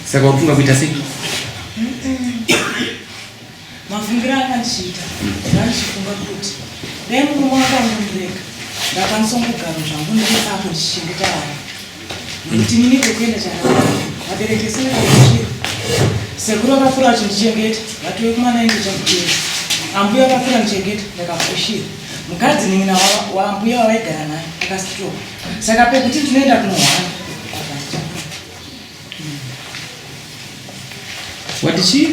Saka wafunga kuita sei? Mafungiro akandichiita zvandichifunga kuti dai murume wako anondirega ndakwanisa kugara zvangu ndiriapo ndichichengeta vana nekuti mini kwekuenda chakanaka vabereki sine kakuchira sekuru vakakura vachindichengeta vatove kumana ende chakutera ambuya vakakura ndichengeta ndakafushira mukadzi nin'ina waambuya wavaigara naye akasitoka Saka pekuti tinoenda kunohwara. What did she?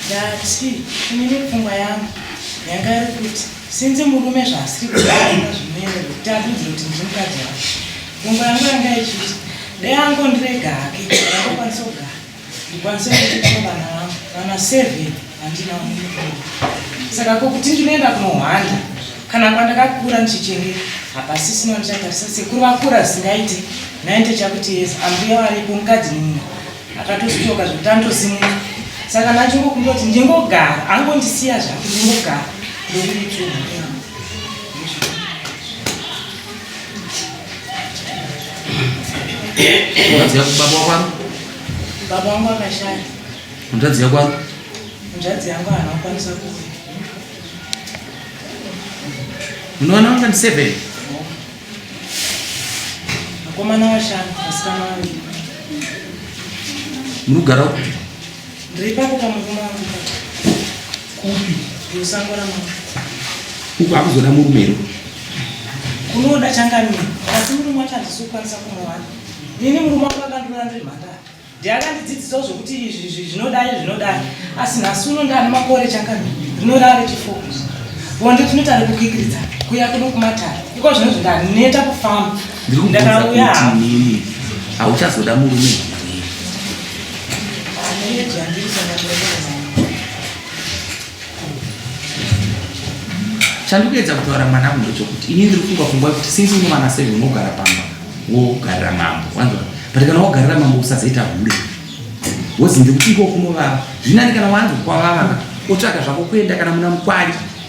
Ndati inini pfungwa yangu yanga iri kuti sinzi murume zvaasiri kuaina zvinoenda kuti atunzire kuti ndiri mukadzi wake. Pfungwa yangu yanga ichiti dai angondirega hake ndakwanisa kugara. ndikwanise kuchengeta vana vangu vana seven handina mukuru saka ko kuti ndinoenda kunohwanda kana kwandakakura ndichichengeta hapasisina ndichatarisa sekuru vakura singaite naite chakuti yes ambuya varipo mukadzi mumwe akatosutoka zvekuti anotosimuka saka nachingokundoti ndingogara angondisiya zvake ndingogara ndokuitu Mutadzi yako baba wakwako? Baba wangu akashaya. Mutadzi yako wako? Mutadzi yangu haana kukwanisa kuuya. Unoona wanga ndi seven? Vakomana vashanu, vasikana vaviri. Muri kugara upi? Ndiri ipapo pamurume wangu. Kupi? Musango ramambo. Uko akuzoda murume here? Kunoda changamire. Asi murume wacho handisi kukwanisa kumuwana. Nini murume wangu akandiona ndiri mhandara. Ndiye akandidzidzisawo zvekuti izvi zvinodai zvinodai. Asi nhasi uno ndane makore changamire. Rinorara rechifokusi. Bonde tinoita rekukikiridza kuya kuno kumatare. Iko zvino zvindaneta kufamba. Ndiri kubvunza kuti nini hauchazoda murume here? Ane yedu yandiri sanga chandikuedza kutaura mwana mundo chokuti ini ndiri funga fungwa kuti since une vana seven unogara pamba wogarira mambo wanzwa but kana wogarira mambo usazoita hure wozi ndiri kuti iko kunovava zvinani kana wanzi kwavava otsvaga zvako kuenda kana muna mukwari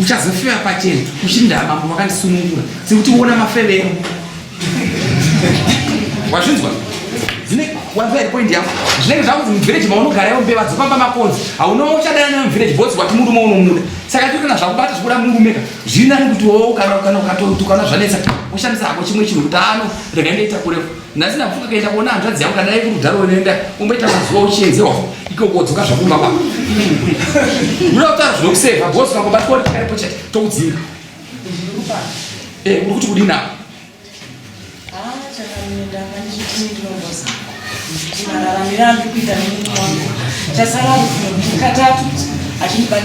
uchazofewa pachena uchindaa mambo vakandisunungura sekuti uona mafevero wazvinzwa zvine wanzwa iri point yako zvinenge zvakunzi muvhireji maunogara iwo mbeva dzopamba makonzi haunoa uchadana nayo muvhireji bhozi wati murume unomuda saka tiri kana zvakubata zvikuda murumeka zviri nani kuti woo kana ukatotukana zvanetsa ushandisa hako chimwe chinhu kuti ano rega ndoita kurefu nhasi ndakufunga kaenda kuona hanzvadzi yangu kana yaiku rudharo unoenda umboita mazuva uchienzewa ikoko dzoka zvakumba kwako unoda kutaura zvinokuseva bhosi kangobatwa kuti karipo chete tokudzinga eh, uri kuti kudini apo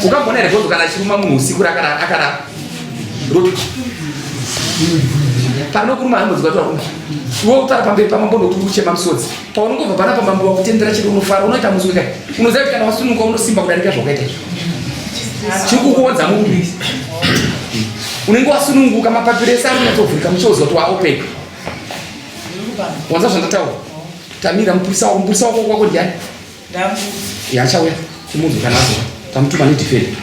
ukagona here bhosi kana achiruma munhu usiku rakarara rotuti panokuruma hambodzi kwatiwakumba iwe utara pamberi pamambo nokuri kuchema musodzi paunongobva pana pamambo wakutendera chiri unofara unoita muswe kai unoziva kuti kana wasunuka unosimba kudarika zvakaita izvo chiri kukuonza mumbi unenge wasununguka mapapiro ese arinyatovhurika muchioziva kuti waopeka wanza zvandataura tamira mupurisa wako mupurisa wako kwako ndiani yachauya chimunhu kana azova tamutuma nedefende